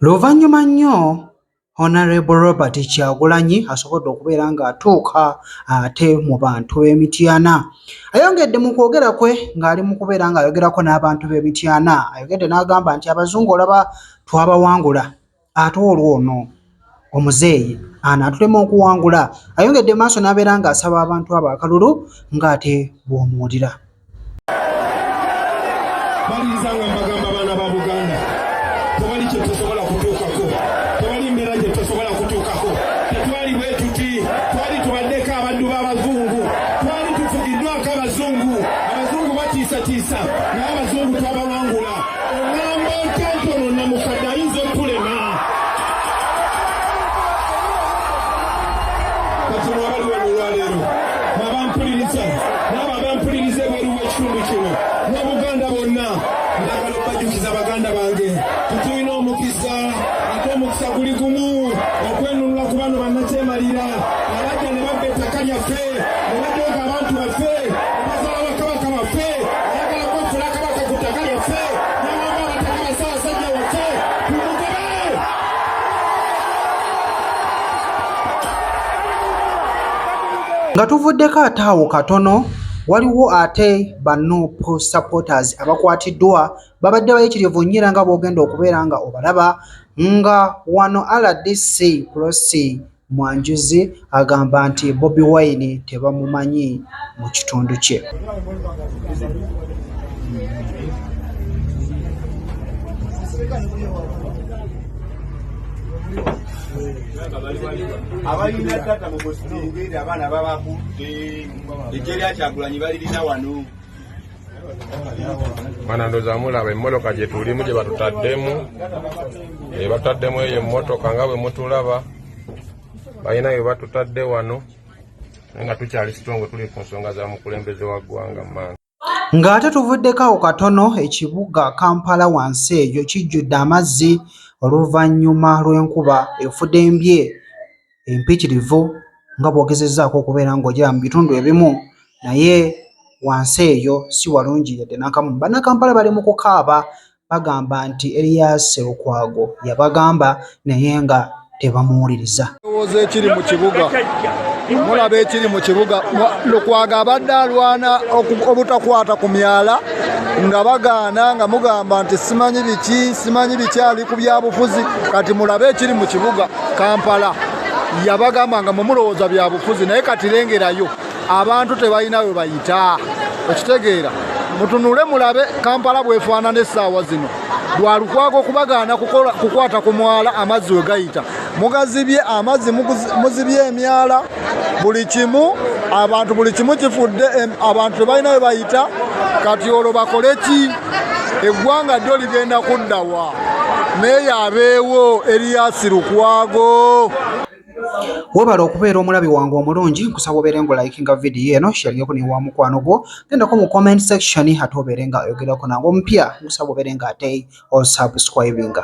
Luvannyuma nnyo Honourable Robert Kyagulanyi asobodde okubeera ng'atuuka ate mu bantu b'e Mityana. Ayongedde mu kwogera kwe ng'ali mu kubeera ng'ayogerako n'abantu b'e Mityana. Ayogedde n'agamba nti abazungu olaba twabawangula ate olwono omuzeeyi anaatulema okuwangula. Ayongedde maaso n'abeera ng'asaba abantu abo akalulu ng'ate bw'omuwulira. baliriza nga mbagamba abaana ba buganda tewali kyetusobola kutuukako tewali mbeera gyetusobola kutuukako tetwali bwe tuti twali tubaddeko abaddu b'abazungu twali tufugiddwako abazungu abazungu batiisatiisa naye abazungu twabawangula oŋamba otentono namukadde ayinza okulema kati mwabaliwo mulwaleero nabampuliriza abampuliriza ebweru w'ekitundu kino ne buganda bonna ndagala okubajjukiza baganda bange tutulina omukisa ate omukisa guli gumu okwenunula ku bano bannakyemalira abajja ne babba ettaka lyaffe ne bajooga abantu baffe bazala bakabaka baffe ayagala kwefula kabaka ku ttaka lyaffe nawamba abataka basabasajja waffe tumugobe nga tuvuddeko ate awo katono waliwo ate banup supporters abakwatiddwa babadde bayitirivu nnyo era nga boogenda okubeera nga obalaba nga wano rdc prosi mwanjuzi agamba nti bobi wine tebamumanyi mu kitundu kye Thank you. abalina tata mubositengeri abaana babakutte ejje lyakyagulanyi balirina wano banandoza mulaba emmotoka gyetulimu gye batutaddemu gye batutaddemu eyo emmotoka nga bwe mutulaba balina bye batutadde wano naye nga tukyali sitongo tuli ku nsonga za mukulembeze wa ggwanga maanyi Ng'ate tuvuddeko awo katono ekibuga Kampala wansi eyo kijjudde amazzi oluvannyuma lw'enkuba efudembye empitirivu nga bw'ogezezzaako okubeera ng'ogyera mu bitundu ebimu naye wansi eyo si walungi yadde n'akamu. Bannakampala bali mu kukaaba Bagamba nti Erias Lukwago yabagamba naye nga tebamuwuliriza. Mulowooza ekiri mu kibuga, mulaba ekiri mu kibuga. Lukwago abadde alwana obutakwata ku myala nga bagaana nga mugamba nti simanyi biki simanyi biki ali ku byabufuzi. Kati mulabe ekiri mu kibuga Kampala. Yabagamba nga mumulowooza byabufuzi naye kati lengerayo. abantu tebalina we bayita okitegeera mutunule mulabe kampala bwefaanana essaawa zino lwalukwaga okubagaana kukwata ku mwala amazzi we gayita mugazibye amazzi muzibye emyala buli kimu abantu buli kimu kifudde abantu tebalina we bayita kati olwo bakole ki eggwanga ddo ligenda kuddawa naye yabeewo eriyasi lukwago Webale okubeera omulabi wange omulungi nkusaba obeere nga olayikinga vidiyo eno sheriyeko ne wa mukwano gwo gendako mu comment section ate obeere nga oyogerako nange omupya nkusaba obeere nga ate osubscribinga.